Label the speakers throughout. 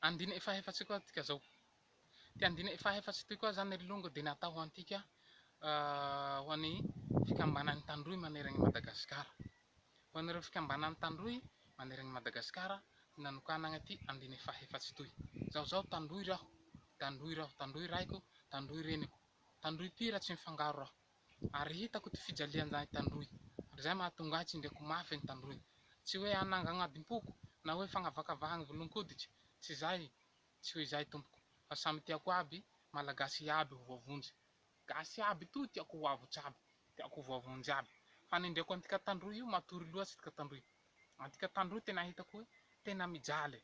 Speaker 1: Andina efa efatsy koa tika zao. Ty andina efa efatsy ty koa zany ry longo dia natao ho antika ho an'ny fikambanan'ny tandroy maneran'i Madagasikara. Ho an'ireo fikambanan'ny tandroy maneran'i Madagasikara no nanokanagna ty andina efa efatsy toy. Zaho zao tandroy raho, tandroy raho, tandroy raiko, tandroy reniko, tandroy mpihira tsy mifangaro raho. Ary hitako ity fijalian-jahy tandroy, ary izay mahatonga ahy tsindriako mafy ny tandroy. Tsy hoe hanangagnadimpoko, na hoe fagnavakavahagny volon-koditry, tsy izay, tsy ho izay tompoko, fa samy tiako aby, Malagasy iaby ho voavonjy. Gasy iaby toa tiako ho avotsy aby, tiako ho voavonjy aby. Fa ny indreko antika tandroy io matory loatsy tika tandroy. Antika tandroy tena hitako hoe tena mijaly e.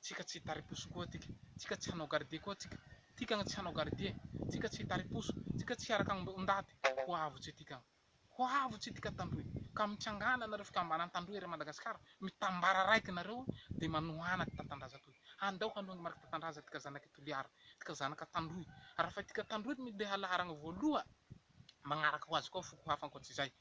Speaker 1: Tsika tsy hitari-poso koa tika. Tsika tsy hanao gardie koa tsika. Tikagn tsy hanao gardie. Tsika tsy hitari-poso. Tsika tsy hiaraka amb ondaty. Ho avotse tikagn. Ho avotse tika Tandroy. Ka mitsangana nareo fikambanan Tandroy ery Madagascar. Mitambara raiky nareo de manohana ty Tatandraza toy. Handao hanohagn marc Tatandraza tika zanak i Toliara. Tika zanak Tandroy. Rafa tika Tandroy mi ndeha laharagna voaloha, magnaraka ho azy koa foko hafa ankoatsy izay.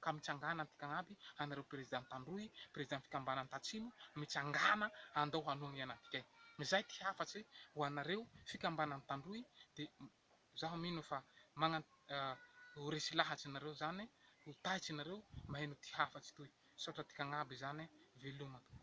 Speaker 1: ka mitsangana antika agnaby anareo président tandroy président fikambanany tatsimo mitsangana andao hanohigna antika izay ty hafatse ho anareo fikambanany tandroy de zaho mino fa magna ho resy lahatry nareo zany ho taitry nareo maheno ty hafatsy toy misaotra antika agnaby zany veloma tompoko.